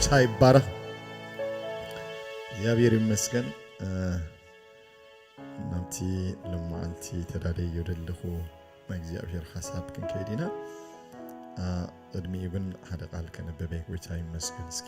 ጌታ ይባረክ። እግዚኣብሔር ይመስገን ናብቲ ልማዓንቲ ተዳደዮ ደለኹ ናይ እግዚኣብሔር ሓሳብ ክንከይድ ኢና ቅድሚኡ ግን ሓደ ቃል ከነበበ ጎይታ ይመስገን እስኪ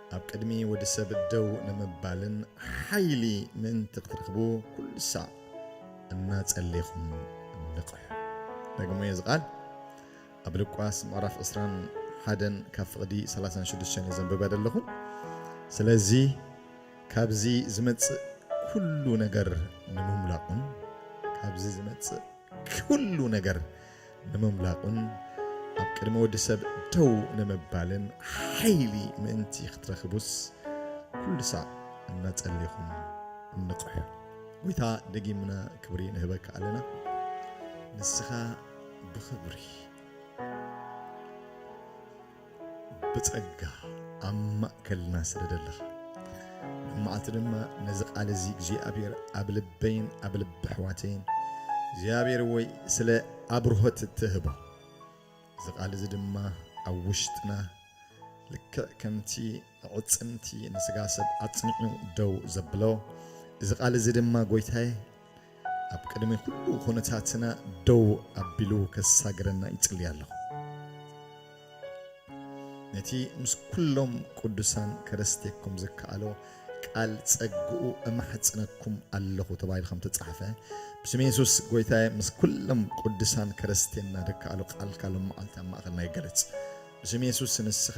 ኣብ ቅድሚ ወዲ ሰብ ደው ንምባልን ሓይሊ ምእንቲ ክትረኽቡ ኩሉ ሳዕ እናጸሌኹም ንቕሑ። ደግሞ'የ እዚ ቃል ኣብ ሉቃስ ምዕራፍ ዕስራን ሓደን ካብ ፍቕዲ ሰላሳን ሽዱሽተን እየ ዘንብበ ዘለኹ። ስለዚ ካብዚ ዝመጽእ ኩሉ ነገር ንምምላቑን ካብዚ ዝመጽእ ኩሉ ነገር ንምምላቑን ኣብ ቅድሚ ወዲ ሰብ ደው ንምባልን ሓይሊ ምእንቲ ክትረኽቡስ ኩሉ ሳዕ እናጸሌኹም ንቕሑ። ጎይታ ደጊምና ክብሪ ንህበካ ኣለና ንስኻ ብኽብሪ። ብጸጋ ኣብ ማእከልና ስለ ዘለኻ መዓልቲ ድማ ነዚ ቃል እዚ እግዚኣብሔር ኣብ ልበይን ኣብ ልቢ ኣሕዋተይን እግዚኣብሔር ወይ ስለ ኣብርሆት እትህቦ እዚ ቃል እዚ ድማ ኣብ ውሽጥና ልክዕ ከምቲ ዕፅምቲ ንስጋ ሰብ ኣፅኒዑ ደው ዘብሎ እዚ ቃል እዚ ድማ ጎይታዬ ኣብ ቅድሚ ኩሉ ኩነታትና ደው ኣቢሉ ከሳግረና ይጽሊ ኣለኹ። ነቲ ምስ ኩሎም ቅዱሳን ከረስቴኩም ዝከኣሎ ቃል ጸግኡ እማሕጽነኩም ኣለኹ ተባሂሉ ከም ተጻሕፈ ብስም የሱስ ጎይታየ ምስ ኩሎም ቅዱሳን ከረስቴና ዝከኣሎ ቃልካ ሎም መዓልቲ ኣብ ማእኸልና ይገለጽ ብስም የሱስ ንስኻ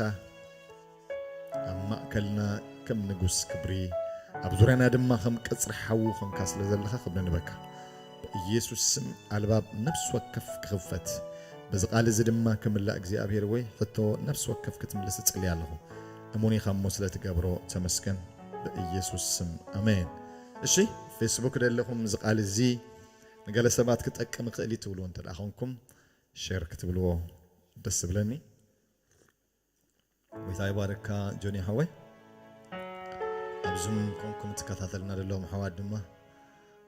ኣብ ማእከልና ከም ንጉስ ክብሪ ኣብ ዙርያና ድማ ከም ቀጽሪ ሓዊ ኮንካ ስለ ዘለኻ ክብሪ ንበካ በኢየሱስ ስም ኣልባብ ነፍሲ ወከፍ ክኽፈት በዚ ቃል እዚ ድማ ክምላእ እግዚኣብሔር ወይ ሕቶ ነፍሲ ወከፍ ክትምልስ እጽልይ ኣለኹ እሙን ኢኻ እሞ ስለ ትገብሮ ተመስገን በኢየሱስ ስም ኣሜን እሺ ፌስቡክ ደለኹም እዚ ቃል እዚ ንገለ ሰባት ክጠቅም ይኽእል እዩ ትብልዎ እንተ ኮንኩም ሼር ክትብልዎ ደስ ዝብለኒ ጎይታ ይባርካ ጆኒ ሓወይ ኣብ ዙም ኮንኩም ትከታተልና ዘለዎም ኣሕዋት ድማ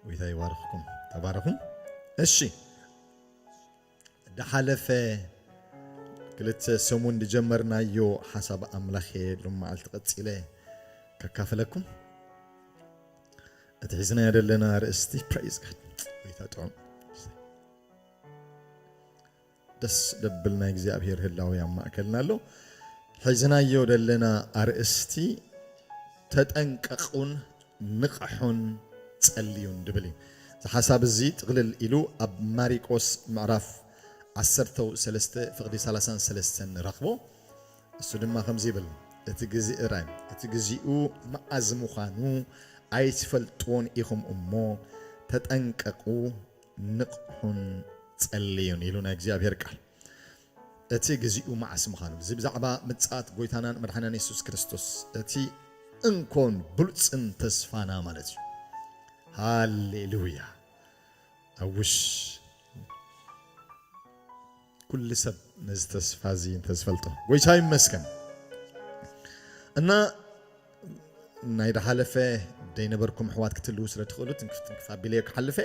ጎይታ ይባርኽኩም ተባረኹ እሺ ድሓለፈ ክልተ ሰሙን ዝጀመርናዮ ሓሳብ ኣምላኽ እየ ሎመዓልቲ ቀፂለ ከካፍለኩም እቲ ሒዝናዮ ዘለና ርእስቲ ፕሬዝ ጋድ ጎይታ ጥዑም ደስ ደብል ናይ እግዚኣብሔር ህላዊ ኣብ ማእከልና ኣሎ። ሒዝናዮ ደለና ኣርእስቲ ተጠንቀቁን ንቅሑን ጸልዩን ድብል እዩ። እዚ ሓሳብ እዚ ጥቅልል ኢሉ ኣብ ማሪቆስ ምዕራፍ ዓሰርተው ሰለስተ ፍቅዲ ሰላሳን ሰለስተን ንረክቦ። እሱ ድማ ከምዚ ይብል እቲ ግዜ እራይ እቲ ግዚኡ መዓዝ ምዃኑ ኣይትፈልጥዎን ኢኹም እሞ ተጠንቀቁ ንቕሑን ጸልዩን ኢሉ ናይ እግዚኣብሄር ቃል እቲ ግዚኡ መዓስ ምዃኑ እዚ ብዛዕባ ምጽኣት ጎይታናን መድሓኒናን የሱስ ክርስቶስ እቲ እንኮን ብሉጽን ተስፋና ማለት እዩ ሃሌሉያ ኣውሽ ኩሉ ሰብ ነዚ ተስፋ እዚ እንተ ዝፈልጦ ጎይታ ይመስገን እና ናይ ዳሓለፈ ደይነበርኩም ኣሕዋት ክትልዉ ስለ ትኽእሉ ትንክፍ ትንክፍ ኣቢለዮ ክሓልፈ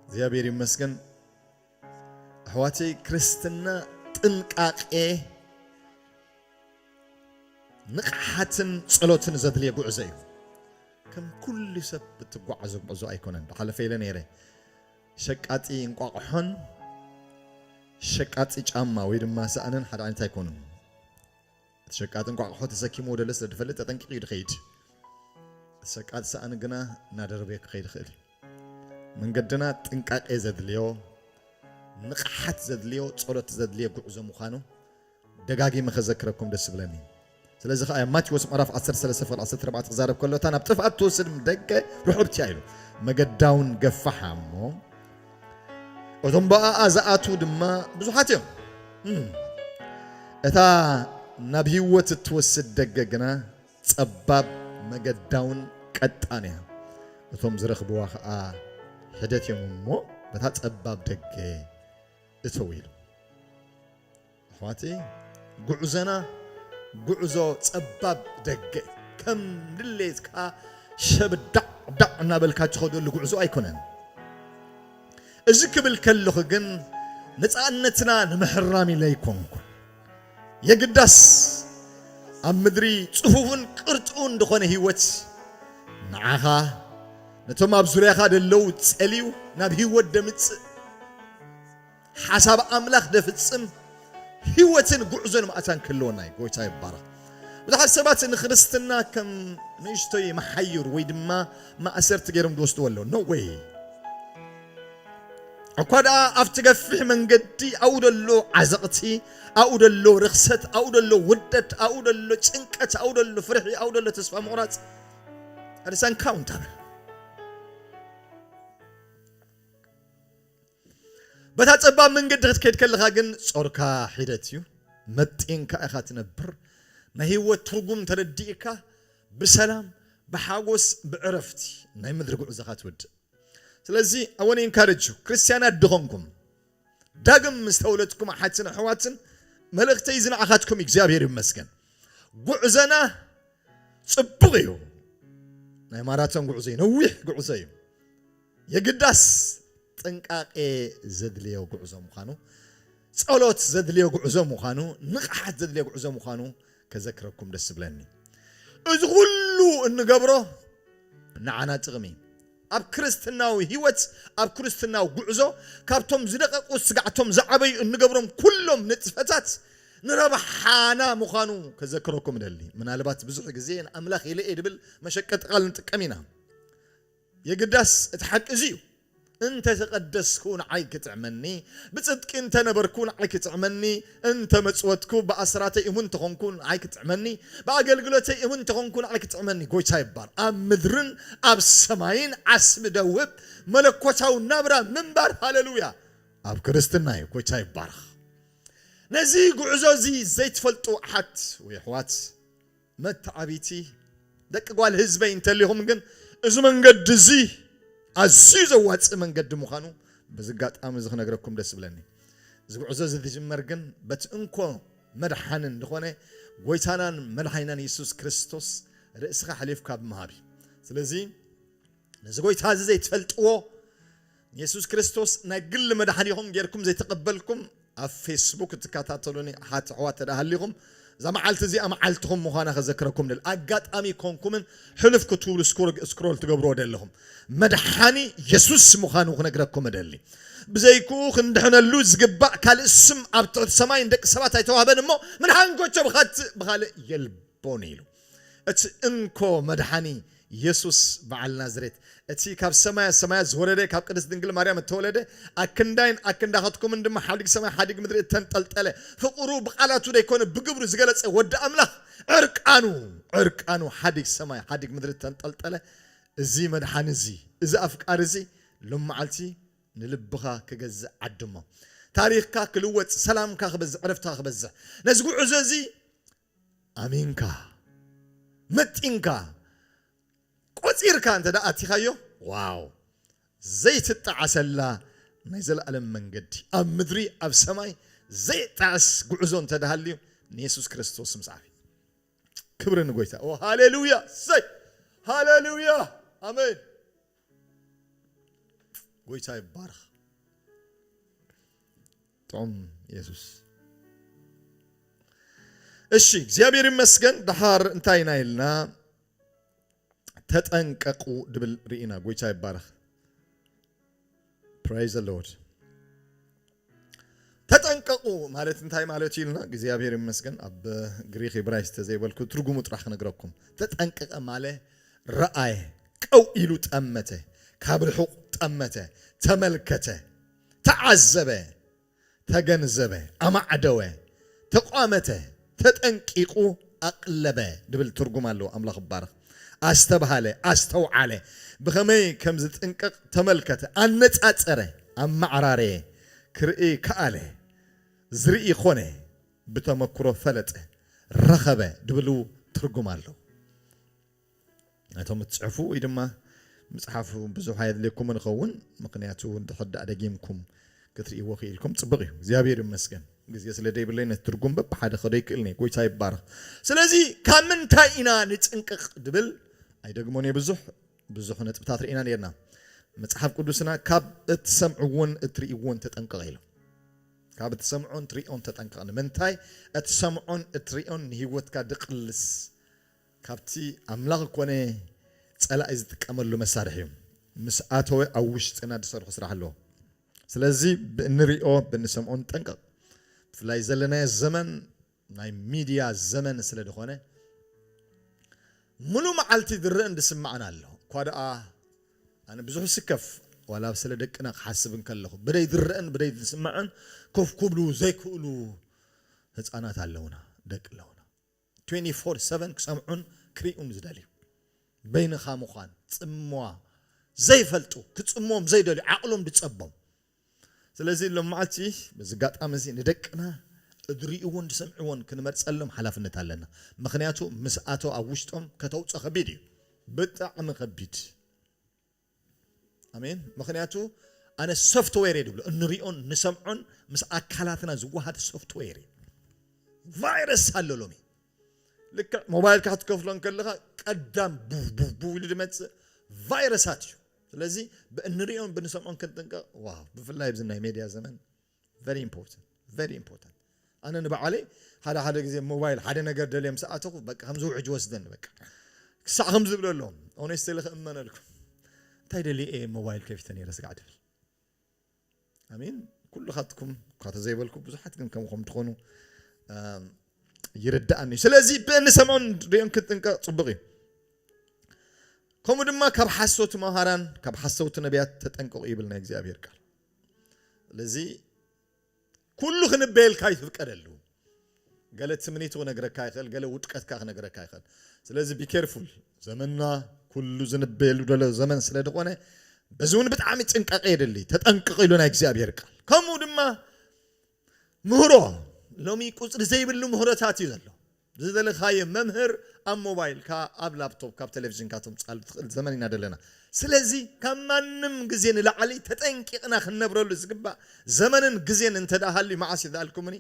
እግዚኣብሔር ይመስገን ኣሕዋተይ ክርስትና ጥንቃቄ ንቕሓትን ጸሎትን ዘድልየ ጉዕዞ እዩ ከም ኩሉ ሰብ ብትጓዓዞ ጉዕዞ ኣይኮነን ብሓለፈ ኢለ ነይረ ሸቃጢ እንቋቑሖን ሸቃጢ ጫማ ወይ ድማ ሳእንን ሓደ ዓይነት ኣይኮኑን። እቲ ሸቃጢ እንቋቑሖ ተሰኪምዎ ደለ ስለ ዝፈልጥ ተጠንቂቑ እዩ ዝኸይድ። እቲ ሸቃጢ ሳእኒ ግና እናደረበዮ ክኸይድ ይኽእል እዩ። መንገድና ጥንቃቄ ዘድልዮ፣ ንቕሓት ዘድልዮ፣ ጸሎት ዘድልዮ ጉዕዞ ምዃኑ ደጋጊመ ከዘክረኩም ደስ ዝብለኒ ስለዚ ከኣ እያ ማቴዎስ ምዕራፍ ዓሰርተ ሰለስተ ፍቕዲ ዓሰርተ ኣርባዕተ ክዛረብ ከሎ እታ ናብ ጥፍኣት እትወስድ ደገ ርሑብቲ እያ ኢሉ መገዳውን ገፋሓ እሞ እቶም ብኣኣ ዝኣትዉ ድማ ብዙሓት እዮም እም፣ እታ ናብ ህይወት እትወስድ ደገ ግና ጸባብ መገዳውን ቀጣን እያ እቶም ዝረኽብዋ ከኣ ሕደት እዮም እሞ በታ ጸባብ ደገ እተው ኢሉ ኣሕዋተይ ጉዕዞና ጉዕዞ ጸባብ ደገ እዩ። ከም ድሌትካ ሸብዳዕዳዕ እናበልካ ትኸደሉ ጉዕዞ ኣይኮነን። እዚ ክብል ከለኹ ግን ነፃነትና ንምሕራም ኢለ ኣይኮንኩን። የግዳስ ኣብ ምድሪ ጽፉፍን ቅርጡን ዝኾነ ህይወት ንዓኻ ነቶም ኣብ ዙርያኻ ደለዉ ጸልዩ ናብ ህይወት ደምጽእ ሓሳብ ኣምላኽ ደፍጽም ህይወትን ጉዕዞን ማእታን ክህልወና እዩ። ጎይታ ይባረኽ። ብዙሓት ሰባት ንክርስትና ከም ንእሽቶይ መሓዩር ወይ ድማ ማእሰርቲ ገይሮም ዝወስድዎ ኣለዉ። ኖ ወይ እኳ ደኣ ኣብቲ ገፊሕ መንገዲ ኣብኡ ደሎ ዓዘቕቲ ኣብኡ ደሎ ርኽሰት ኣብኡ ደሎ ውርደት ኣብኡ ደሎ ጭንቀት ኣብኡ ደሎ ፍርሒ ኣብኡ ደሎ ተስፋ ምቑራፅ ርሰንካውን ታበል በታ ጸባብ መንገዲ ክትከድ ከለኻ ግን ጾርካ ሒደት እዩ መጢንካ ኢኻ ትነብር ናይ ሂወት ትርጉም ተረዲእካ ብሰላም ብሓጎስ ብዕረፍቲ ናይ ምድሪ ጉዕዞኻ ትወድእ ስለዚ I want to encourage you ክርስትያናት ድኾንኩም ዳግም ምስ ተወለድኩም ኣሓትን ኣሕዋትን መልእኽተይ እዚ ንዓኻትኩም እግዚኣብሔር ይመስገን ጉዕዘና ጽቡቕ እዩ ናይ ማራቶን ጉዕዞ እዩ ነዊሕ ጉዕዞ እዩ የግዳስ ጥንቃቄ ዘድልዮ ጉዕዞ ምዃኑ፣ ጸሎት ዘድልዮ ጉዕዞ ምዃኑ፣ ንቕሓት ዘድልዮ ጉዕዞ ምዃኑ ከዘክረኩም ደስ ዝብለኒ። እዚ ኩሉ እንገብሮ ንዓና ጥቕሚ፣ ኣብ ክርስትናዊ ሕይወት፣ ኣብ ክርስትናዊ ጉዕዞ ካብቶም ዝደቐቑ ስጋዕቶም ዝዓበዩ እንገብሮም ኩሎም ንጥፈታት ንረብሓና ምዃኑ ከዘክረኩም እደሊ። ምናልባት ብዙሕ ግዜ ንኣምላኽ ኢለ እየ ድብል መሸቀጢ ቃል ንጥቀም ኢና። የግዳስ እቲ ሓቂ እዚ እዩ፣ እንተ ተቐደስኩ ንዓይ ኪጥዕመኒ፣ ብጽድቂ እንተ ነበርኩ ንዓይ ኪጥዕመኒ፣ እንተ መጽወትኩ፣ ብኣስራተይ እሙን እንተ ዀንኩ ንዓይ ኪጥዕመኒ፣ ብኣገልግሎተይ እሙን እንተ ዀንኩ ንዓይ ኪጥዕመኒ። ጐይታ ይባረኽ። ኣብ ምድርን ኣብ ሰማይን ዓስቢ ደውብ መለኮታዊ ናብራ ምንባር ሃለሉያ ኣብ ክርስትና እዩ። ጐይታ ይባረኽ። ነዚ ጕዕዞ እዚ ዘይትፈልጡ ኣሓት ወይ ኣሕዋት፣ መተዓቢቲ ደቂ ጓል ህዝበይ እንተሊኹም ግን እዚ መንገዲ እዚ ኣዝዩ ዘዋጽእ መንገዲ ምዃኑ በዚ ኣጋጣሚ እዚ ክነግረኩም ደስ ዝብለኒ። እዚ ጉዕዞ እዚ ዝጅመር ግን በቲ እንኮ መድሓንን ዝኾነ ጎይታናን መድሓኒናን የሱስ ክርስቶስ ርእስኻ ኣሕሊፍካ ብምሃብ እዩ። ስለዚ ነዚ ጐይታ እዚ ዘይትፈልጥዎ፣ ንየሱስ ክርስቶስ ናይ ግሊ መድሓኒኹም ጌርኩም ዘይተቐበልኩም፣ ኣብ ፌስቡክ እትከታተሉኒ ኣሓት ኣሕዋት እንተድኣ ሃሊኹም፣ እዛ መዓልቲ እዚኣ መዓልትኹም ምዃና ከዘክረኩም እደሊ። ኣጋጣሚ ኰንኩምን ሕልፍ ክትብሉ ስክሮል ትገብርዎ ዘለኹም፣ መድሓኒ የሱስ ምዃኑ ክነግረኩም እደሊ። ብዘይክኡ ክንድሕነሉ ዝግባእ ካልእ ስም ኣብ ትሕቲ ሰማይ ንደቂ ሰባት ኣይተዋህበን እሞ፣ ምን ሓንጐቸ ብኻልእ የልቦን ኢሉ። እቲ እንኮ መድሓኒ የሱስ በዓል ናዝሬት እቲ ካብ ሰማያ ሰማያት ዝወረደ ካብ ቅድስት ድንግል ማርያም እተወለደ ኣክንዳይን ኣክንዳኻትኩምን ድማ ሓዲግ ሰማይ ሓዲግ ምድሪ እተንጠልጠለ ፍቕሩ ብቓላቱ ደይኮነ ብግብሩ ዝገለጸ ወዲ ኣምላኽ ዕርቃኑ ዕርቃኑ ሓዲግ ሰማይ ሓዲግ ምድሪ እተንጠልጠለ እዚ መድሓኒ እዚ እዚ ኣፍቃሪ እዚ ሎምዓልቲ ንልብኻ ክገዝእ ዓድሞ ታሪኽካ ክልወጽ ሰላምካ ክበዝሕ ዕረፍትኻ ክበዝሕ ነዚ ጉዕዞ እዚ ኣሚንካ መጢንካ ቆጺርካ እንተ ኣቲኻዮ ዋው ዘይትጣዓሰላ ናይ ዘለኣለም መንገዲ ኣብ ምድሪ ኣብ ሰማይ ዘይጣዕስ ጉዕዞ እንተ ሃልዩ ንየሱስ ክርስቶስ ምስዓብ እዩ ክብሪ ንጎይታ ኦ ሃሌሉያ ሰይ ሃሌሉያ ኣሜን ጎይታ ይባርኽ ጦም የሱስ እሺ፣ እግዚኣብሔር ይመስገን። ደሓር እንታይ ኢና ኢልና ተጠንቀቁ ድብል ርኢና። ጎይታ ይባረኽ። ፕራይዝ ዘ ሎርድ። ተጠንቀቁ ማለት እንታይ ማለት እዩ ኢልና እግዚኣብሔር ይመስገን። ኣብ ግሪክ ኢብራይስ ተዘይበልኩ ትርጉሙ ጥራሕ ክነግረኩም። ተጠንቀቀ ማለ ረኣየ፣ ቀው ኢሉ ጠመተ፣ ካብ ርሑቅ ጠመተ፣ ተመልከተ ተዓዘበ፣ ተገንዘበ፣ ኣማዕደወ፣ ተቋመተ፣ ተጠንቂቁ፣ ኣቅለበ ድብል ትርጉም ኣለዎ። ኣምላኽ ይባረኽ። ኣስተብሃለ፣ ኣስተውዓለ፣ ብኸመይ ከምዝጥንቀቅ ተመልከተ፣ ኣነጻጸረ፣ ኣመዓራረየ፣ ክርኢ ከኣለ፣ ዝርኢ ኮነ፣ ብተመክሮ ፈለጠ፣ ረኸበ ድብሉ ትርጉም ኣለዎ። እቶም እትጽሕፉ ወይ ድማ ምጽሓፍ ብዙሕ ኣየድልየኩምን ይኸውን ምኽንያቱ እንድሕር ደኣ ደጊምኩም ክትርእይዎ ክኢልኩም ጽብቕ እዩ እግዚኣብሔር ይመስገን ግዜ ስለ ደይብለይ ነቲ ትርጉም በብሓደ ከዶ ይክእልን እየ ጎይታ ይባረኽ ስለዚ ካብ ምንታይ ኢና ንጽንቅቕ ድብል ኣይደግሞን እየ ብዙሕ ብዙሕ ነጥብታት ርኢና ነርና መጽሓፍ ቅዱስና ካብ እትሰምዕዎን እትርእይዎን ተጠንቀቕ ኢሎም ካብ እትሰምዖን ትርእዮን ተጠንቀቕ ንምንታይ እትሰምዖን እትርእዮን ንህይወትካ ድቕልስ ካብቲ ኣምላኽ ኮነ ጸላኢ ዝጥቀመሉ መሳርሒ እዩ። ምስ ኣተወ ኣብ ውሽጥና ዝሰርሖ ስራሕ ኣሎ። ስለዚ ብእንርእዮ ብእንሰምዖ ንጠንቀቕ። ብፍላይ ዘለናዮ ዘመን ናይ ሚድያ ዘመን ስለ ዝኾነ ምሉእ መዓልቲ ዝረእን ዝስማዕን ኣሎ። እኳ ደኣ ኣነ ብዙሕ ይስከፍ ዋላ ስለ ደቅና ክሓስብ እንከለኹ። ብደይ ዝረእን ብደይ ዝስማዕን ኮፍ ክብሉ ዘይክእሉ ህጻናት ኣለውና፣ ደቂ ኣለውና። ትዌንቲ ፎር ሰቨን ክሰምዑን ክሪኡን ዝደልዩ በይንኻ ምዃን ጽምዋ ዘይፈልጡ ክጽምዎም ዘይደልዩ ዓቕሎም ድጸቦም ስለዚ ሎምዓልቲ በዚ ጋጣሚ እዚ ንደቅና እድሪኡዎን ድሰምዕዎን ክንመርጸሎም ሓላፍነት ኣለና ምኽንያቱ ምስ ኣተው ኣብ ውሽጦም ከተውጾ ከቢድ እዩ ብጣዕሚ ከቢድ ኣሜን ምክንያቱ ኣነ ሶፍትዌር እየ ድብሎ እንሪኦን ንሰምዖን ምስ ኣካላትና ዝወሃድ ሶፍትዌር እዩ ቫይረስ ኣሎ ሎሚ ልክዕ ሞባይልካ ክትከፍሎ እንከለኻ ቀዳም ቡቡቡ ኢሉ ዝመፅእ ቫይረሳት እዩ ስለዚ ብእንሪኦን ብንሰምዖን ክንጥንቀቕ ዋ ብፍላይ ኣብዚ ናይ ሜድያ ዘመን ቨሪ ኢምፖርታንት ቨሪ ኢምፖርታንት ኣነ ንበዓለይ ሓደ ሓደ ግዜ ሞባይል ሓደ ነገር ደልየ ምስ ኣተኹ በቃ ከምዚ ውሕጅ ወስደኒ በቃ ክሳዕ ከም ዝብለ ኣሎ ኦነስተሊ ክእመነልኩም እንታይ ደልየ እየ ሞባይል ከፊተ ነይረ ስጋዕ ትብል ኣሚን ኩሉኻትኩም እኳ ተዘይበልኩ ብዙሓት ግን ከምኹም ትኾኑ ይርዳእኒ እዩ ስለዚ ብእንሰምዖን ሪኦን ክንጥንቀቕ ፅቡቕ እዩ ከምኡ ድማ ካብ ሓሶት መሃራን ካብ ሓሰውቲ ነቢያት ተጠንቀቑ ይብል ናይ እግዚኣብሔር ቃል ስለዚ ኩሉ ክንበየልካ ይፍቀደሉ ገለ ትምኒቱ ክነግረካ ይኽእል ገለ ውድቀትካ ክነግረካ ይኽእል ስለዚ ቢኬርፉል ዘመንና ኩሉ ዝንበየሉ ደሎ ዘመን ስለ ዝኾነ በዚ እውን ብጣዕሚ ጥንቃቄ የድሊ ተጠንቅቕ ኢሉ ናይ እግዚኣብሔር ቃል ከምኡ ድማ ምህሮ ሎሚ ቁፅሪ ዘይብሉ ምህሮታት እዩ ዘሎ ዝደለኻዮ መምህር ኣብ ሞባይልካ ኣብ ላፕቶፕ ካብ ተለቪዥንካ ተምጽኣሉ ትኽእል ዘመን ኢና ደለና ስለዚ ካብ ማንም ግዜ ንላዕሊ ተጠንቂቅና ክንነብረሉ ዝግባእ ዘመንን ግዜን እንተ ሃልዩ መዓስ እዩ ዳኣልኩምኒ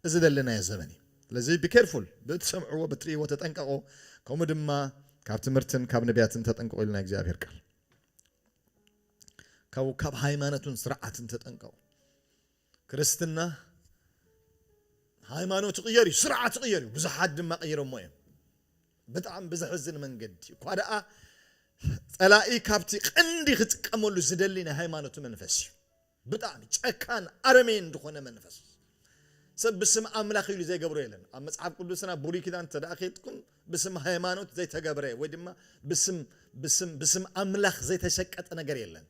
እዚ ደለናዮ ዘመን እዩ ስለዚ be careful ብእትሰምዕዎ ብትርእይዎ ተጠንቀቁ ከምኡ ድማ ካብ ትምህርትን ካብ ነብያትን ተጠንቀቁ ኢሉ ናይ እግዚኣብሔር ቃል ካብኡ ካብ ሃይማኖትን ስርዓትን ተጠንቀቁ ክርስትና ሃይማኖት ይቕየር እዩ፣ ስርዓት ይቕየር እዩ፣ ብዙሓት ድማ ቀይሮሞ እዮም። ብጣዕሚ ብዘሕዝን መንገዲ እኳ ደኣ ጸላኢ ካብቲ ቀንዲ ክጥቀመሉ ዝደሊ ናይ ሃይማኖት መንፈስ እዩ። ብጣዕሚ ጨካን ኣረሜን ዝኾነ መንፈስ ሰብ ብስም ኣምላኽ ኢሉ ዘይገብሮ የለን። ኣብ መጽሓፍ ቅዱስና ብሉይ ኪዳን እንተ ደኣ ኬድኩም ብስም ሃይማኖት ዘይተገብረ ወይ ድማ ብስም ብስም ብስም ኣምላኽ ዘይተሸቀጠ ነገር የለን።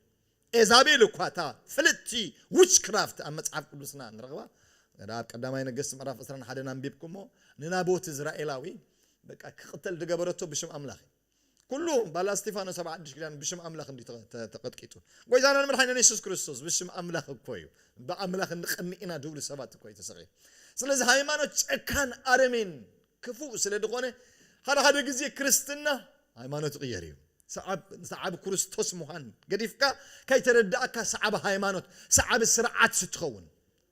ኤዛቤል እኳ እታ ፍልጥቲ ዊችክራፍት ኣብ መጽሓፍ ቅዱስና ንረኽባ እንተ ኣብ ቀዳማይ ነገስት ምዕራፍ ዕስራን ሓደን ኣንቢብኩሞ ንናቦት እዝራኤላዊ በቃ ክቅተል ዝገበረቶ ብሽም ኣምላኽ እዩ ኩሉ ባላ እስጢፋኖስ ኣብ ሓድሽ ኪዳን ብሽም ኣምላኽ እንዲ ተቀጥቂጡ ጎይታናን መድሓኒና የሱስ ክርስቶስ ብሽም ኣምላኽ እኮ እዩ ብኣምላኽ እንቀንእ ኢና ድብሉ ሰባት እኮ እዩ ተሰቂሉ ስለዚ ሃይማኖት ጨካን ኣረሜን ክፉእ ስለ ድኾነ ሓደ ሓደ ግዜ ክርስትና ሃይማኖት ይቕየር እዩ። ሰዓብ ሰዓቢ ኩርስቶስ ምዃን ገዲፍካ ከይተረዳእካ ሰዓቢ ሃይማኖት ሰዓቢ ስርዓት ስትኸውን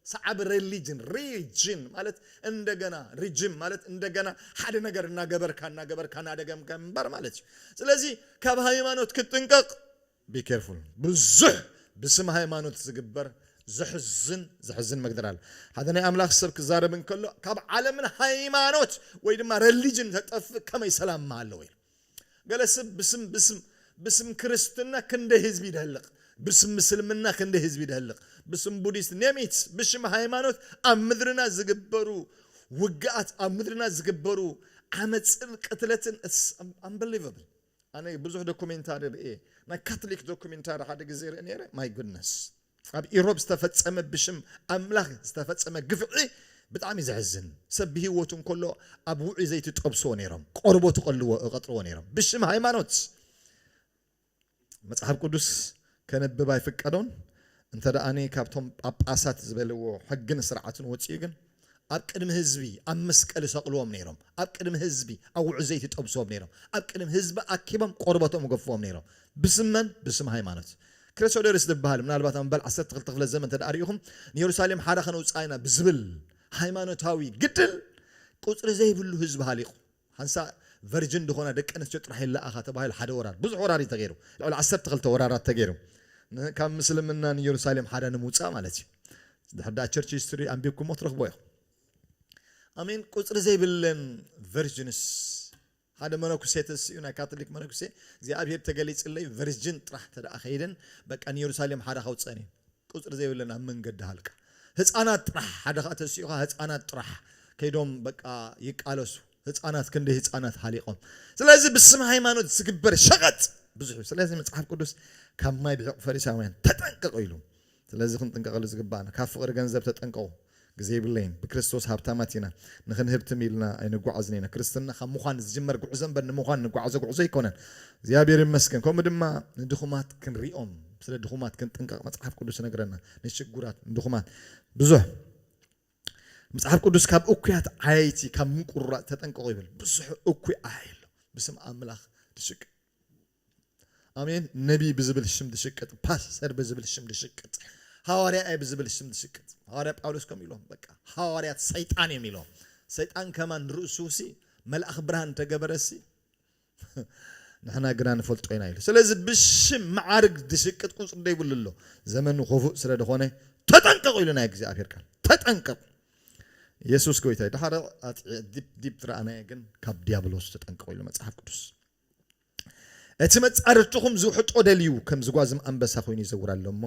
ሰዓቢ ረሊጅን ሪጅን ማለት እንደገና ሪጅም ማለት እንደገና ሓደ ነገር እናገበርካ እናገበርካ እናደገምካ ምንባር ማለት እዩ። ስለዚ ካብ ሃይማኖት ክትጥንቀቕ Be careful ብዙሕ ብስም ሃይማኖት ዝግበር ዘሕዝን ዘሕዝን መግደር ኣሎ ሓደ ናይ ኣምላኽ ሰብ ክዛረብ እንከሎ ካብ ዓለምን ሃይማኖት ወይ ድማ ረሊጅን ተጠፍእ ከመይ ሰላም ምሃለወ ኢሉ ገለ ስብ ብስም ብስም ብስም ክርስትና ክንደይ ህዝቢ ይደህልቕ ብስም ምስልምና ክንደይ ህዝቢ ይደህልቕ ብስም ቡዲስት ኔሚት ብሽም ሃይማኖት ኣብ ምድርና ዝግበሩ ውግኣት ኣብ ምድርና ዝግበሩ ዓመፅን ቅትለትን ኣምበሊቨብል ኣነ ብዙሕ ዶኩሜንታሪ ርእየ ናይ ካትሊክ ዶኩሜንታሪ ሓደ ግዜ ርእየ ነይረ ማይ ጉድነስ ኣብ ኢሮብ ዝተፈጸመ ብሽም ኣምላክ ዝተፈጸመ ግፍዒ ብጣዕሚ ዘሕዝን ሰብ ብሂወቱ እንከሎ ኣብ ውዑይ ዘይቲ ጠብስዎ ነይሮም ቆርቦቱ ቀልዎ ቀጥርዎ ነይሮም ብሽም ሃይማኖት መጽሓፍ ቁዱስ ከንብብ ኣይፍቀዶን፣ እንተ ደኣኒ ካብቶም ጳጳሳት ዝበልዎ ሕግን ስርዓትን ወጺኡ ግን ኣብ ቅድሚ ህዝቢ ኣብ መስቀል ይሰቕልዎም ነይሮም፣ ኣብ ቅድሚ ህዝቢ ኣብ ውዑይ ዘይቲ ይጠብስዎም ነይሮም፣ ኣብ ቅድሚ ህዝቢ ኣኪቦም ቆርበቶም ይገፍፍዎም ነይሮም፣ ብስም መን? ብስም ሃይማኖት። ክሬሶደርስ ዝበሃል ምናልባት ኣብ መበል ዓሰርተ ክልተ ክፍለ ዘመን እንተ ርኢኹም ንየሩሳሌም ሓራ ከነውጽኣ ኢና ብዝብል ሃይማኖታዊ ግድል ቁጽሪ ዘይብሉ ህዝቢ ሃሊቑ፣ ሓንሳእ ቨርጅን ዝኾና ደቂ ኣንስትዮ ጥራሕ ይለኣኻ ተባሂሉ ሓደ ወራር፣ ብዙሕ ወራር እዩ ተገይሩ፣ ልዕሊ ዓሰርተ ክልተ ወራራት ተገይሩ፣ ን ካብ ምስልምና ን የሩሳሌም ሓዳ ንምውጻእ ማለት እዩ፣ ድሕሪ ድኣ ቸርች ሂስትሪ ኣንቢብኩሞ ትረኽብዎ ኢኹም። I mean ቁጽሪ ዘይብለን ቨርጅንስ፣ ሓደ መነኩሴ ተሲኡ ናይ ካቶሊክ መነኩሴ እግዚኣብሄር ተገሊጽለይ ቨርጅን ጥራሕ ተድኣ ከይደን በቃ ን የሩሳሌም ሓዳ ከውጽኣን እዩ፣ ቁጽሪ ዘይብለን ኣብ መንገዲ ሃልቃ ህጻናት ጥራሕ ሓደ ከኣ ተሲኡካ ህጻናት ጥራሕ ከይዶም በቃ ይቃለሱ ህጻናት ክንደይ ህጻናት ሃሊቆም ስለዚ ብስም ሃይማኖት ዝግበር ሸቀጥ ብዙሕ እዩ ስለዚ መጽሓፍ ቅዱስ ካብ ማይ ብሒቁ ፈሪሳውያን ተጠንቀቁ ኢሉ ስለዚ ክንጥንቀቀሉ ዝግባኣና ካብ ፍቅሪ ገንዘብ ተጠንቀቁ ግዜ የብለይን ብክርስቶስ ሃብታማት ኢና ንክንህብትም ኢልና ኣይንጓዓዝን ኢና ክርስትና ካብ ምዃን ዝጅመር ጉዕዞ እምበር ንምዃን ንጓዓዞ ጉዕዞ ኣይኮነን እግዚኣብሔር ይመስገን ከምኡ ድማ ንድኹማት ክንሪኦም ስለ ድኹማት ክንጥንቀቅ መጽሓፍ ቅዱስ ይነግረና ንሽጉራት ንድኹማት ብዙሕ መጽሓፍ ቅዱስ ካብ እኩያት ዓያይቲ ካብ ምቁርራጽ ተጠንቀቁ ይብል ብዙሕ እኩይ ዓያይ ኣሎ ብስም ኣምላኽ ድሽቅ ኣሜን ነቢይ ብዝብል ሽም ዝሽቅጥ ፓስተር ብዝብል ሽም ዝሽቅጥ ሃዋርያ እየ ብዝብል ሽም ዝሽቅጥ ሃዋርያ ጳውሎስ ከምኡ ኢሎም በቃ ሃዋርያት ሰይጣን እዮም ኢሎም ሰይጣን ከማን ርእሱሲ መልኣኽ ብርሃን ተገበረሲ ንሕና ግና ንፈልጦ ኢና ኢሉ ስለዚ ብሽም መዓርግ ዝሽቅጥ ቁፅሪ ዘይብሉ ኣሎ ዘመኑ ኮፉእ ስለ ዝኾነ ተጠንቀቑ ኢሉ ናይ እግዚኣብሔር ቃል ተጠንቀቑ የሱስ ጎይታ እዩ ድሓረ ዲፕ ዲፕ ዝረኣናየ ግን ካብ ዲያብሎስ ተጠንቀቑ ኢሉ መፅሓፍ ቅዱስ እቲ መጻርርትኹም ዝውሕጦ ደልዩ ከም ዝጓዝም ኣንበሳ ኮይኑ ይዘውር ኣሎ እሞ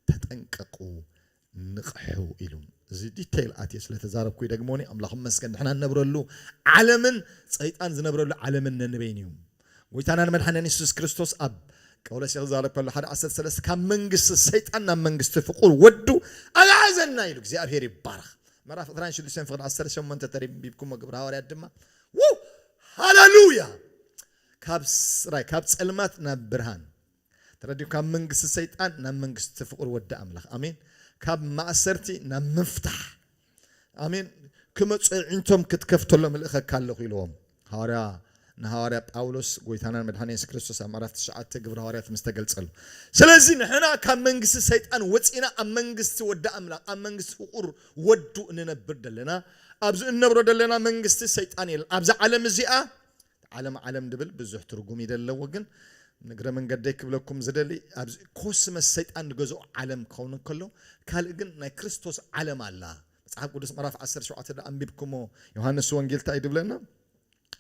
ተጠንቀቁ ንቕሑ ኢሉ። እዚ ዲተይል ኣትየ ስለ ተዛረብኩ ይደግሞኒ ኣምላኽ ይመስገን ንሕና ንነብረሉ ዓለምን ጸይጣን ዝነብረሉ ዓለምን ነንበይኑ እዩ ጎይታናን መድሓኒናን የሱስ ክርስቶስ ኣብ ቀውለሴ ክዛረብ ከሎ ሓደ ዓሰርተ ሰለስተ ካብ መንግስቲ ሰይጣን ናብ መንግስቲ ፍቁር ወዱ ኣግዓዘና ኢሉ እግዚኣብሄር ይባረኽ ምዕራፍ ዕስራን ሽዱሽተን ፍቅዲ ዓሰርተ ሸሞንተ ተንቢብኩሞ ግብረ ሃዋርያት ድማ ው ሃለሉያ ካብ ስራይ ካብ ፀልማት ናብ ብርሃን ተረዲኡ ካብ መንግስቲ ሰይጣን ናብ መንግስቲ ፍቅር ወዲ ኣምላኽ ኣሜን ካብ ማእሰርቲ ናብ ምፍታሕ ኣሜን ክመፁ ኣዒንቶም ክትከፍተሎም እልእኸካ ኣለኹ ኢልዎም ሃዋርያ ንሃዋርያ ጳውሎስ ጎይታናን መድሓኒ የሱስ ክርስቶስ ኣብ ምዕራፍ ትሽዓተ ግብሪ ሃዋርያት ምስ ተገልጸሉ ስለዚ ንሕና ካብ መንግስቲ ሰይጣን ወፂና ኣብ መንግስቲ ወዲ ኣምላኽ ኣብ መንግስቲ ፍቁር ወዱ እንነብር ደለና ኣብዚ እንነብሮ ደለና መንግስቲ ሰይጣን የለን ኣብዚ ዓለም እዚኣ ዓለም ዓለም ድብል ብዙሕ ትርጉም እዩ ደለዎ ግን ንግረ መንገደይ ክብለኩም ዝደሊ ኣብዚ ኮስመስ ሰይጣን ዝገዝኦ ዓለም ክኸውን እንከሎ ካልእ ግን ናይ ክርስቶስ ዓለም ኣላ መጽሓፍ ቅዱስ ምዕራፍ 17 ዶ ኣንቢብኩሞ ዮሃንስ ወንጌል እንታይ ድብለና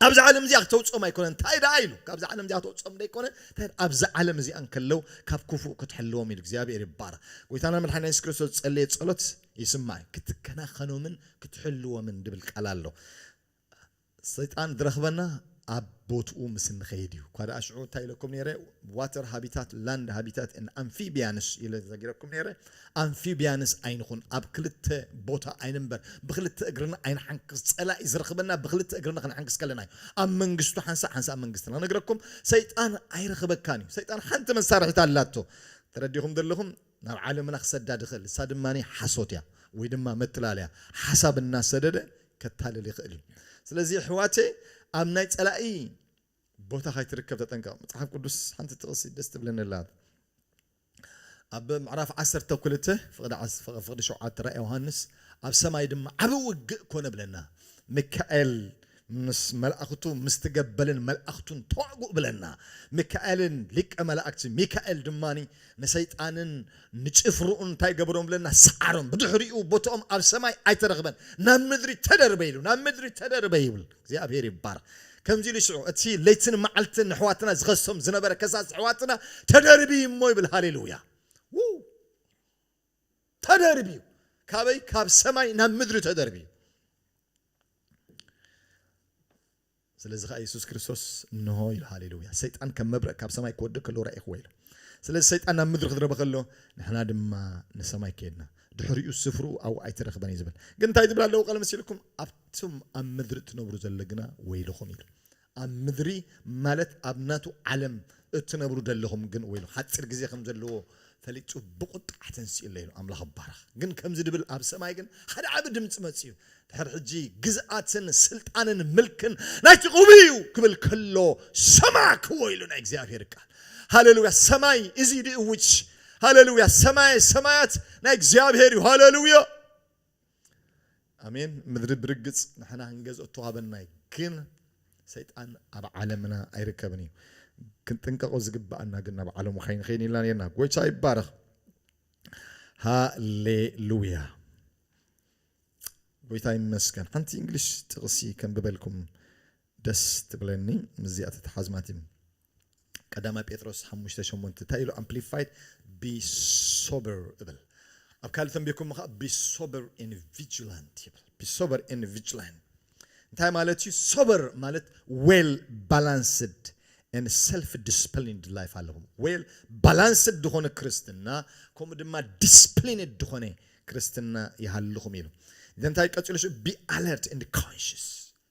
ኣብዛ ዓለም እዚኣ ክተውጽኦም ኣይኮነን እንታይ ደኣ ኢሉ ካብዛ ዓለም እዚኣ ክተውጽኦም ደይኮነ እንታይ ኣብዛ ዓለም እዚኣ እንከለው ካብ ክፉእ ክትሕልዎም ኢሉ እግዚኣብሔር ይባረክ ጎይታና መድሓኒና የሱስ ክርስቶስ ዝጸለየ ጸሎት ይስማዕ ክትከናኸኖምን ክትሕልዎምን ድብል ቃል ኣሎ ሰይጣን ዝረኽበና ኣብ ቦትኡ ምስ እንኸይድ እዩ እኳ ደኣ ሽዑ እንታይ ኢለኩም ነይረ ዋተር ሃቢታት ላንድ ሃቢታት ን ኣምፊቢያንስ ኢለ ተዛጊረኩም ነይረ ኣምፊብያንስ ኣይንኹን ኣብ ክልተ ቦታ ኣይንንበር ብኽልተ እግርና ኣይንሓንክስ ጸላኢ ዝረኽበና ብኽልተ እግርና ክንሕንክስ ከለና እዩ ኣብ መንግስቱ ሓንሳእ ሓንሳእ መንግስትና ክነግረኩም ሰይጣን ኣይረኽበካን እዩ ሰይጣን ሓንቲ መሳርሒት ኣላቶ ተረዲኹም ዘለኹም ናብ ዓለምና ክሰዳድ ይኽእል ንሳ ድማ ሓሶት እያ ወይ ድማ መትላለያ ሓሳብ እናሰደደ ከታልል ይኽእል እዩ ስለዚ ኣሕዋተይ ኣብ ናይ ጸላኢ ቦታ ካይትርከብ ተጠንቀቕ መጽሓፍ ቅዱስ ሓንቲ ጥቕሲ ደስ ትብለኒ ኣላ ኣብ ምዕራፍ ዓሰርተ ክልተ ፍቅዲ ሸውዓተ ራእይ ዮሃንስ ኣብ ሰማይ ድማ ዓቢ ውግእ ኮነ ብለና ሚካኤል ምስ መላእክቱ ምስቲ ገበልን መላእክቱን ተዋግኡ ብለና ሚካኤልን ሊቀ መላእክቲ ሚካኤል ድማ ንሰይጣንን ንጭፍርኡን እንታይ ገበሮም ብለና ሰዓሮም ብድሕሪኡ ቦትኦም ኣብ ሰማይ ኣይተረኽበን ናብ ምድሪ ተደርበ ኢሉ ናብ ምድሪ ተደርበ ይብል እግዚኣብሔር ይባረኽ ከምዚ ኢሉ ሽዑ እቲ ለይትን መዓልትን ነሕዋትና ዝኸሶም ዝነበረ ከሳስ ኣሕዋትና ተደርብዪ እሞ ይብል ሃሌሉያ ውው ተደርብዩ ካበይ ካብ ሰማይ ናብ ምድሪ ተደርብዩ ስለዚ ከዓ የሱስ ክርስቶስ እንሆ ኢሉ ሃሌሉያ ሰይጣን ከም መብረቅ ካብ ሰማይ ክወድእ ከሎ ረኢኽዎ ኢሉ ስለዚ ሰይጣን ናብ ምድሪ ክድረበ ከሎ ንሕና ድማ ንሰማይ ከድና ድሕሪኡ ስፍርኡ ኣብኡ ኣይተረኽበን እዩ ዝብል ግን እንታይ ትብል ኣለዎ ቃል መሲልኩም ኣቱም ኣብ ምድሪ እትነብሩ ዘሎ ግና ወይልኹም ኢሉ። ኣብ ምድሪ ማለት ኣብ ናቱ ዓለም እትነብሩ ደለኹም ግን ወይልኹም፣ ሓጺር ግዜ ከም ዘለዎ ፈሊጡ ብቑጥዓ ተንሲኡ ኣሎ ኢሉ። ኣምላኽ ይባረኽ። ግን ከምዚ ድብል ኣብ ሰማይ ግን ሓደ ዓቢ ድምጺ መጺኡ። ድሕር ሕጂ ግዝኣትን ስልጣንን ምልክን ናይቲ ቅቡእ እዩ ክብል ከሎ ሰማዕክዎ ኢሉ ናይ እግዚኣብሄር ቃል። ሃለሉያ ሰማይ እዚ ድእውጅ ሃለሉያ ሰማየ ሰማያት ናይ እግዚኣብሄር እዩ ሃለሉያ። ኣሜን ምድሪ ብርግጽ ንሕና ክንገዝኦ እተዋህበና እዩ ግን ሰይጣን ኣብ ዓለምና ኣይርከብን እዩ ክንጥንቀቆ ዝግባኣና ግን ናብ ዓለሙ ከይንኸይን ኢልና ነርና ጎይታ ይባረኽ ሃሌሉያ ጎይታ ይመስገን ሓንቲ እንግሊሽ ጥቕሲ ከንብበልኩም ደስ ትብለኒ ምስዚኣ ተተሓዝማት እዩ ቀዳማይ ጴጥሮስ ሓሙሽተ ሸሞንተ እንታይ ኢሉ ኣምፕሊፋይድ ቢ ሶበር እብል ኣብ ካልእ ተንቢርኩም ከኣ ቢ ሶበር ኤን ቪጅላንት ይብል ቢ ሶበር ኤን ቪጅላንት እንታይ ማለት እዩ ሶበር ማለት ዌል ባላንስድ ን ሰልፍ ዲስፕሊንድ ላይፍ ኣለኹም ዌል ባላንስድ ዝኾነ ክርስትና ከምኡ ድማ ዲስፕሊንድ ዝኾነ ክርስትና ይሃልኹም ኢሉ እንታይ ቀፂሉ ቢ ኣለርት ን ኮንሽስ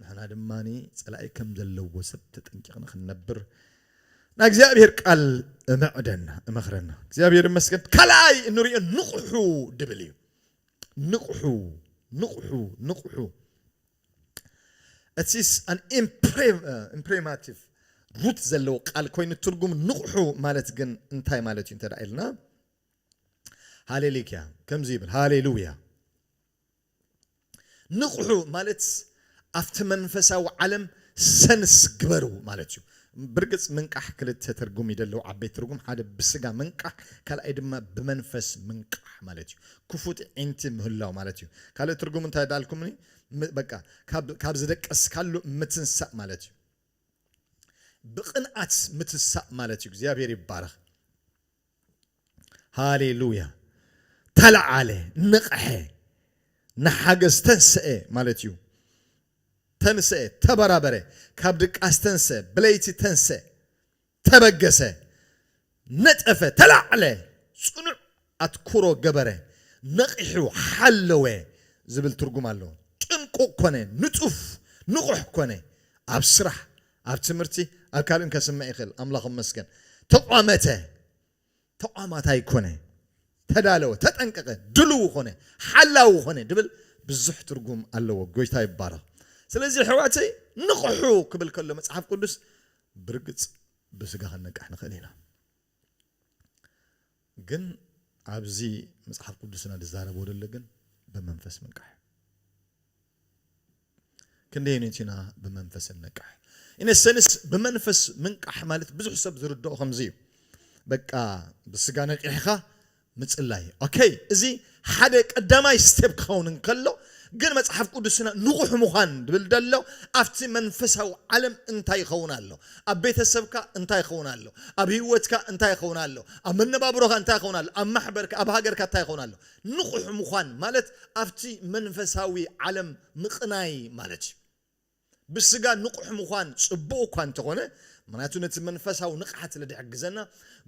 ንሕና ድማ ጸላኢ ከም ዘለዎ ሰብ ተጠንቂቕና ክንነብር ናይ እግዚኣብሔር ቃል እምዕደና እመኽረና። እግዚኣብሔር ይመስገን። ካልኣይ እንሪኦ ንቕሑ ድብል እዩ። ንቕሑ ንቕሑ ንቕሑ እቲስ ኣን ኢምፕሬማቲቭ ሩት ዘለዎ ቃል ኮይኑ ትርጉም ንቕሑ ማለት ግን እንታይ ማለት እዩ እንተ ኢልና ሃሌሊክያ ከምዚ ይብል ሃሌሉያ ንቕሑ ማለት ኣብቲ መንፈሳዊ ዓለም ሰንስ ግበሩ ማለት እዩ። ብርግጽ ምንቃሕ ክልተ ትርጉም እዩ ደለዎ ዓበይቲ ትርጉም ሓደ ብስጋ ምንቃሕ ካልኣይ ድማ ብመንፈስ ምንቃሕ ማለት እዩ ክፉት እዒንቲ ምህላው ማለት እዩ ካልእ ትርጉሙ እንታይ ዳልኩምኒ በቃ ካብ ካብ ዝደቀስካሉ ምትንሳእ ማለት እዩ ብቕንኣት ምትሳእ ማለት እዩ እግዚኣብሔር ይባረኽ ሃሌ ሉያ ተለዓለ ነቐሐ ንሓገዝ ተንሰኤ ማለት እዩ ተንሰኤ ተበራበረ ካብ ድቃስ ተንሰኤ ብለይቲ ተንሰኤ ተበገሰ ነጠፈ ተላዕለ ጽኑዕ ኣትኩሮ ገበረ ነቒሑ ሓለወ ዝብል ትርጉም ኣለዎ ጥንቁቕ ኮነ ንጡፍ ንቑሕ ኮነ ኣብ ስራሕ ኣብ ትምህርቲ ኣብ ካልእን ከስምዕ ይኽእል ኣምላኽ ይመስገን ተቋመተ ተቋማታይ ኮነ፣ ተዳለወ፣ ተጠንቀቀ፣ ድልዉ ኮነ፣ ሓላዊ ኮነ ድብል ብዙሕ ትርጉም ኣለዎ። ጎይታ ይባረኽ። ስለዚ የሕዋተይ ንቕሑ ክብል ከሎ መጽሓፍ ቅዱስ ብርግጽ ብስጋ ክንነቅሕ ንኽእል ኢና። ግን ኣብዚ መጽሓፍ ቅዱስና ዝዛረቦ ዘሎ ግን ብመንፈስ ምንቃሕ እዩ። ክንደየንት ኢና ብመንፈስ እንነቅሕ? ኢነ ሰንስ ብመንፈስ ምንቃሕ ማለት ብዙሕ ሰብ ዝርድኦ ከምዚ እዩ በቃ ብስጋ ነቂሕኻ ምጽላይ ኦከይ እዚ ሓደ ቀዳማይ ስቴፕ ክኸውን እንከሎ ግን መጽሓፍ ቅዱስና ንቑሕ ምዃን ድብል ደሎ ኣብቲ መንፈሳዊ ዓለም እንታይ ይኸውን ኣሎ ኣብ ቤተሰብካ እንታይ ይኸውን ኣሎ ኣብ ህይወትካ እንታይ ይኸውን ኣሎ ኣብ መነባብሮኻ እንታይ ይኸውን ኣሎ ኣብ ማሕበርካ ኣብ ሃገርካ እንታይ ይኸውን ኣሎ ንቑሕ ምዃን ማለት ኣብቲ መንፈሳዊ ዓለም ምቕናይ ማለት እዩ። ብስጋ ንቑሕ ምዃን ጽቡቕ እኳ እንተኾነ፣ ምኽንያቱ ነቲ መንፈሳዊ ንቕሓት ስለ ዝሕግዘና፣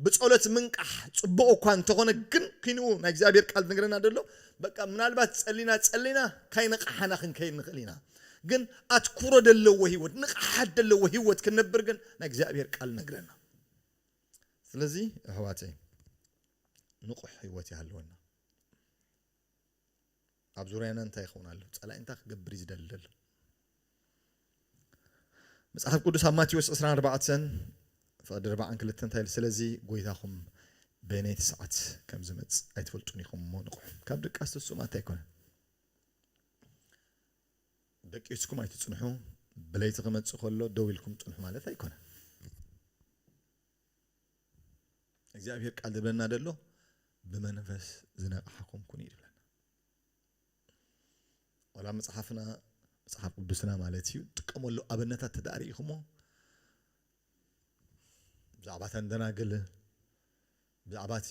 ብጸሎት ምንቃሕ ጽቡቕ እኳ እንተኾነ ግን ክንኡ ናይ እግዚኣብሄር ቃል ዝነግረና ዘሎ በቃ ምናልባት ጸሊና ጸሊና ካይነቓሓና ክንከይድ ንኽእል ኢና ግን ኣትኩሮ ዘለዎ ህይወት ንቕሓት ዘለዎ ህይወት ክንነብር ግን ናይ እግዚኣብሄር ቃል ነግረና። ስለዚ ኣሕዋተይ ንቑሕ ህይወት ይሃልወና። ኣብ ዙርያና እንታይ ይኸውን ኣሎ? ጸላኢ እንታይ ክገብር እዩ ዝደሊ ዘሎ? መጽሓፍ ቅዱስ ኣብ ማቴዎስ 24 ፍቕዲ ርባዕን ክልተ እንታይ ኢሉ? ስለዚ ጎይታኹም በየነይቲ ሰዓት ከም ዝመጽእ ኣይትፈልጡን ኢኹም እሞ ንቑሑ። ካብ ድቃስ ትስኡ ማለት ኣይኮነን። ደቂስኩም ኣይትጽንሑ፣ ብለይቲ ክመጽእ ከሎ ደው ኢልኩም ጽንሑ ማለት ኣይኮነን። እግዚኣብሄር ቃል ዝብለና ዘሎ ብመንፈስ ዝነቕሓኹም ኩኑ እዩ ዝብለና ዋላ መፅሓፍና መፅሓፍ ቅዱስና ማለት እዩ ጥቀመሉ ኣብነታት ተዳሪኢኹሞ ብዛዕባ ተንደናግል ብዛዕባ እቲ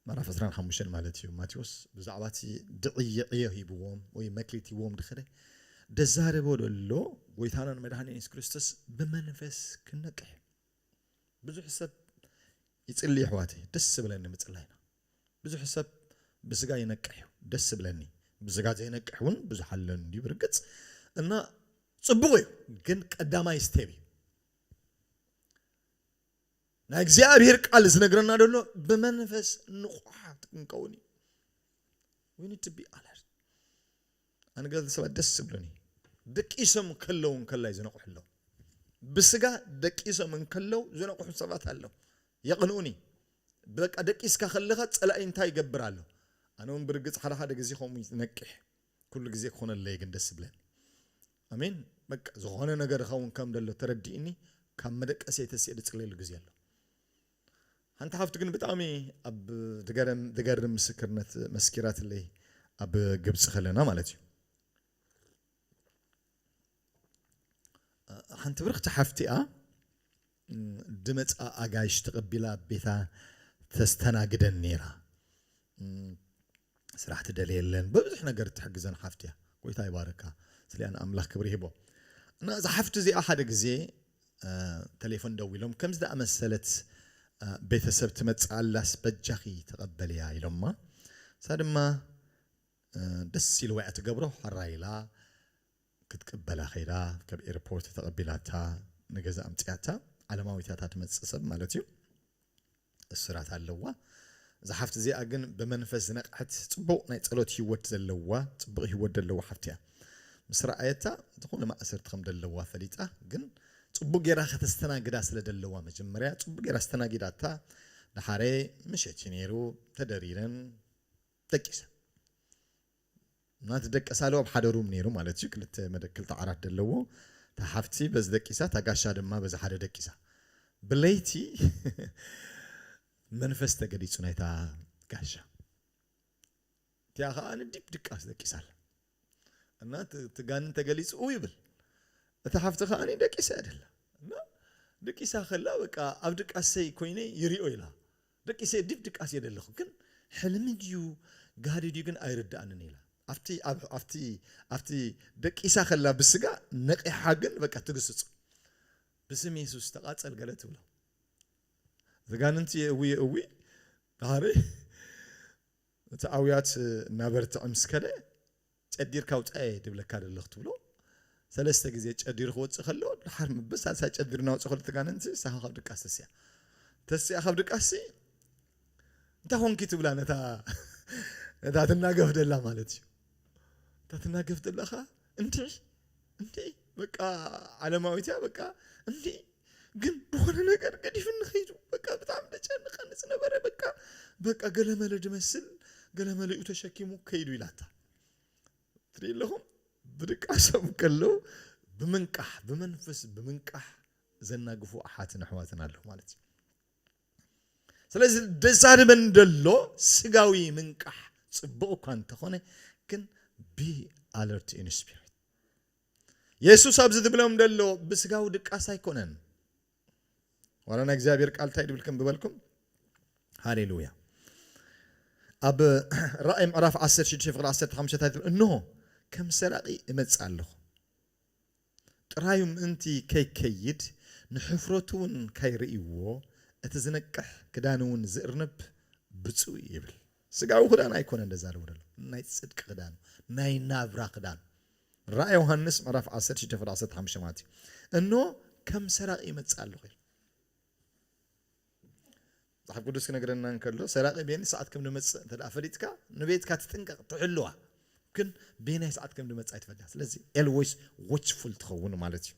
ምዕራፍ ዕስራን ሓሙሽተን ማለት እዩ። ማቴዎስ ብዛዕባ እቲ ድዕይ ዕዮ ሂብዎም ወይ መክሊት ሂብዎም ድክደ ደዛረቦ ደሎ ጎይታናን መድኃኒን ኢየሱስ ክርስቶስ ብመንፈስ ክንነቅሕ ብዙሕ ሰብ ይጽሊ የሕዋተይ ደስ ብለኒ ምጽላይና ብዙሕ ሰብ ብስጋ ይነቅሕ እዩ ደስ ብለኒ ብስጋ ዘይነቅሕ እውን ብዙሕ ኣሎ እንዲዩ ብርግጽ እና ጽቡቕ እዩ ግን ቀዳማይ ስቴብ እዩ ናይ እግዚኣብሄር ቃል ዝነግረና ደሎ ብመንፈስ ንቑሓት ክንከውን እዩ we need to be alert ኣነ ገለ ሰባት ደስ ዝብሉኒ ደቂሶም ከለዉ እንከላይ ዝነቑሑ ኣለዉ ብስጋ ደቂሶም እንከለዉ ዝነቑሑ ሰባት ኣለዉ የቕንኡኒ በቃ ደቂስካ ከለኻ ፀላኢ እንታይ ይገብር ኣሎ ኣነ እውን ብርግፅ ሓደ ሓደ ግዜ ከምኡ ነቂሕ ኩሉ ግዜ ክኾነለይ ግን ደስ ዝብለኒ ኣሜን በቃ ዝኾነ ነገር ይኸውን ከም ደሎ ተረዲእኒ ካብ መደቀስየይ ተሲእ ድጽልየሉ ግዜ ኣሎ ሓንቲ ሓፍቲ ግን ብጣዕሚ ኣብ ድገረም ድገርም ምስክርነት መስኪራትለይ ኣብ ግብጺ ከለና ማለት እዩ ሓንቲ ብርክቲ ሓፍቲኣ ድመጻ ኣጋይሽ ተቐቢላ ኣብ ቤታ ተስተናግደን ነይራ። ስራሕ ትደልየለን፣ በብዙሕ ነገር እትሕግዘን ሓፍቲ እያ። ጐይታ ይባርካ። ስለያ ንኣምላኽ ክብሪ ይህቦ። እና እዛ ሓፍቲ እዚኣ ሓደ ግዜ ተሌፎን ደዊሎም ከምዚ ዝኣመሰለት ቤተሰብ ትመጽእ ኣላስ በጃኺ ተቐበልያ ኢሎማ። እሳ ድማ ደስ ኢልዋ እያ ትገብሮ፣ ሐራይ ኢላ ክትቅበላ ከይዳ ከብ ኤርፖርት ተቀቢላታ ንገዛ ኣምጺኣታ ዓለማዊት እያ እታ ትመጽእ ሰብ ማለት እዩ እስራት ኣለዋ እዛ ሓፍቲ እዚኣ ግን ብመንፈስ ዝነቅሐት ጽቡቅ ናይ ጸሎት ሂወት ዘለዋ ጽቡቅ ሂወት ደለዋ ሓፍቲ እያ ምስ ረኣየታ ዝኮነ ማእሰርቲ ከም ደለዋ ፈሊጣ ግን ጽቡቅ ጌራ ከተስተናግዳ ስለ ደለዋ መጀመርያ ጽቡቅ ጌራ ኣስተናጊዳታ ደሓሬ ምሸት እዩ ኔሩ ተደሪረን ደቂሰን። ናቲ ደቂ ሳሉ ኣብ ሓደ ሩም ነይሩ ማለት እዩ ክልተ መደ ክልተ ዓራት ደለዎ እታ ሓፍቲ በዚ ደቂሳ እታ ጋሻ ድማ በዚ ሓደ ደቂሳ ብለይቲ መንፈስ ተገሊጹ ናይታ ጋሻ እቲኣ ከኣ ንዲብ ድቃስ ደቂሳ ኣላ እና እቲ ጋንን ተገሊጹ እው ይብል እታ ሓፍቲ ከኣ ደቂሳ እያ ደላ እና ድቂሳ ከላ በቃ ኣብ ድቃሰይ ኮይነ ይሪኦ ኢላ ደቂ ሴዲድ ድቃስ የደለኹ ግን ሕልሚ ድዩ ጋህዲ ድዩ ግን ኣይርድኣንን ኢላ ኣብቲ ኣብቲ ኣብቲ ደቂሳ ከላ ብስጋ ነቂሓ ግን በቃ ትግስጾ ብስም የሱስ ተቃጸል ገለ ትብሎ ዘጋንንቲ የእዊ የእዊ ዳሃሪ እቲ ኣውያት እናበርትዐ ምስ ከደ ጨዲርካ ውጻኤ ድብለካ ደሎ ክትብሎ ሰለስተ ግዜ ጨዲሩ ክወጽእ ከሎ ድሓር ምብ ሳልሳይ ጨዲሩ ናውጽእ ከሎ ተጋንንቲ ንሳኻ ካብ ድቃስ ተሲኣ ተሲኣ ካብ ድቃስሲ እንታይ ኮንኪ ትብላ ነታ ነታ ትናገፍ ደላ ማለት እዩ እታ ትናገፍ ደላኻ እንዲዒ እንዲዒ በቃ ዓለማዊት እያ በቃ እንዲዒ ግን ድኮነ ነገር ገዲፍኒ ከይዱ በቃ ብጣዕሚ ደጨንቀኒ ዝነበረ በቃ በቃ ገለመለ ድመስል ገለመለኡ ተሸኪሙ ከይዱ ኢላታ ትርኢ ኣለኹም ብድቃሶም ከለው ብምንቃሕ ብመንፈስ ብምንቃሕ ዘናግፉ ኣሓትን ኣሕዋትን ኣለዉ ማለት እዩ ስለዚ ደዛርበን ደሎ ስጋዊ ምንቃሕ ፅቡቕ እኳ እንተኾነ ግን ቢ ኣለርት ኢን ስፒሪት የሱስ ኣብዚ ዝብሎም ዘሎ ብስጋዊ ድቃስ ኣይኮነን። ዋላ ናይ እግዚኣብሔር ቃል እንታይ ድብል ከም ዝበልኩም ሃሌሉያ ኣብ ራእይ ምዕራፍ 16 ፍቅሪ 15 እንታይ ትብል እንሆ ከም ሰራቂ እመጽእ ኣለኹ ጥራዩ ምእንቲ ከይከይድ ንሕፍረቱ እውን ካይርእይዎ እቲ ዝነቅሕ ክዳን እውን ዝእርንብ ብፁዕ ይብል ስጋዊ ክዳን ኣይኮነን ደዛረቡ ደሎ ናይ ጽድቂ ክዳን ናይ ናብራ ክዳን ራእይ ዮሃንስ ምዕራፍ ዓሰርተ ሽዱሽተ ፍረ ዓሰርተ ሓሙሽተ ማለት እዩ እንሆ ከም ሰራቂ ይመጽእ ኣለኹ ኢሉ መጽሓፍ ቅዱስ ክነግረና እንከሎ ሰራቂ ቤኒ ሰዓት ከም ዝመጽእ እንተ ፈሊጥካ ንቤትካ ትጥንቀቕ ትሕልዋ ግን ቤናይ ሰዓት ከም ዝመጽእ ኣይትፈልያ ስለዚ ኤልወይስ ዎችፉል ትኸውን ማለት እዩ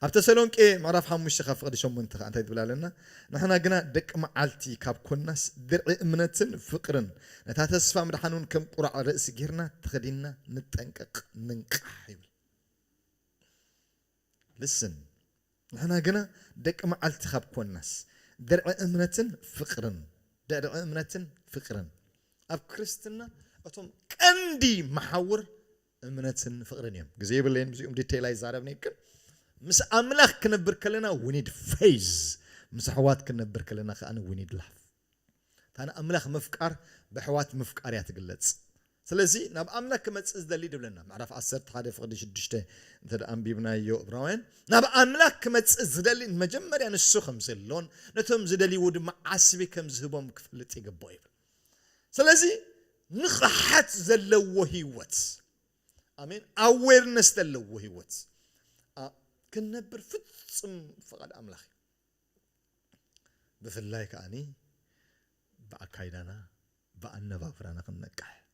ኣብ ተሰሎንቄ ምዕራፍ ሓሙሽተ ካብ ፍቕዲ ሸሞንተ ከኣ እንታይ ትብል ኣለና? ንሕና ግና ደቂ መዓልቲ ካብ ኰንናስ፣ ድርዒ እምነትን ፍቕርን፣ ነታ ተስፋ ምድሓንውን ከም ቍራዕ ርእሲ ጌርና ተኸዲንና ንጠንቀቕ፣ ንንቃሕ ይብል። Listen፣ ንሕና ግና ደቂ መዓልቲ ካብ ኰንናስ፣ ድርዒ እምነትን ፍቕርን፣ ድርዒ እምነትን ፍቕርን፣ ኣብ ክርስትና እቶም ቀንዲ መሓውር እምነትን ፍቅርን እዮም ግዜ የብለይን ብዚኦም ዲተይል ኣይዛረብንየ ግን ምስ ኣምላኽ ክነብር ከለና we need faith ምስ ኣሕዋት ክንነብር ከለና ከኣ we need love እታ ንኣምላኽ ምፍቃር በሕዋት ምፍቃር እያ ትግለጽ ስለዚ ናብ ኣምላክ ክመጽእ ዝደሊ ድብለና ምዕራፍ ዓሰርተ ሓደ ፍቕዲ ሽዱሽተ እንተ ኣንቢብናዮ እብራውያን ናብ ኣምላክ ክመጽእ ዝደሊ መጀመርያ ንሱ ከም ዘሎን ነቶም ዝደልይዎ ድማ ዓስቢ ከም ዝህቦም ክፈልጥ ይግብኦ ይብል ስለዚ ንቕሓት ዘለዎ ህይወት ኣሜን ኣዌርነስ ዘለዎ ህይወት ክንነብር ፍጹም ፍቓድ ኣምላኽ እዩ ብፍላይ ከዓኒ ብኣካይዳና ብኣነባብራና ክንነቅሕ